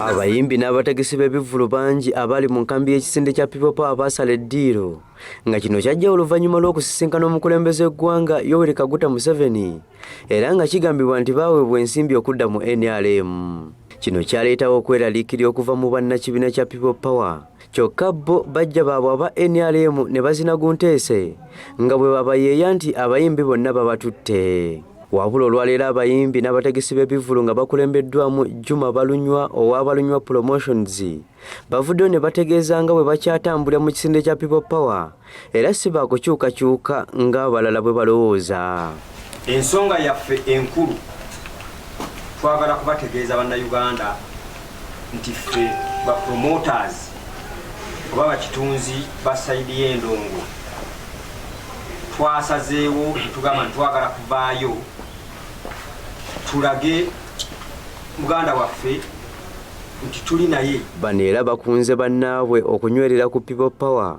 Abayimbi n'abategesi b'ebivvulu bangi abali mu nkambi y'ekisinde kya People Power baasala eddiiro nga kino kyajja oluvannyuma lw'okusisinkana omukulembeze w'eggwanga Yoweri Kaguta Museveni era nga kigambibwa nti baaweebwa ensimbi okudda mu NRM. Kino kyaleetawo okweraliikirira okuva mu bannakibiina kya People Power kyokka bo bajja baabwe aba NRM ne bazina gunteese nga bwe babayeeya nti abayimbi bonna babatutte. Wabula olwaleero abayimbi n'abategesi b'ebivvulu nga bakulembeddwamu Juma Balunywa owa Balunywa Promotions bavuddeyo ne bategeeza nga bwe bakyatambulira mu kisinde kya People Power era si baakukyukakyuka ng'abalala bwe balowooza. Ensonga yaffe enkulu twagala kubategeeza Bannayuganda nti ffe ba promoters oba bakitunzi ba saidi y'endongo twasazeewo tugamba ntitwagala kuvaayo tulage muganda waffe nti tuli naye bano era bakunze bannaabwe okunywerera ku people power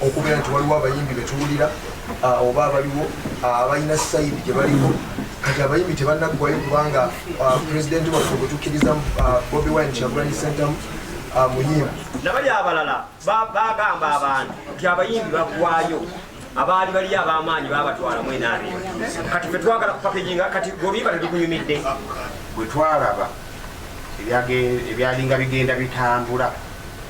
okubeera nti waliwo abayimbi betuwulira oba abaliwo abalina sayidi gyebaliko kati abayimbi tebanaggwayo kubanga pulezidenti waffe gwetukkiriza bobi wine kyagulanyi sentamu muyimbi nabali abalala bagamba abantu nti abayimbi baggwayo abaali bali abamaanyi babatwala mwenabe kati fe twagala kupakejinga kati gobimba tebikunyumidde bwetwalaba ebyalinga bigenda bitambula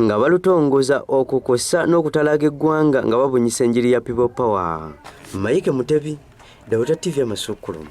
nga balutongoza okwo kwossa n'okutalaaga eggwanga nga babunyisa enjiri ya people power mike mutebi dawuta tv amasukkulumu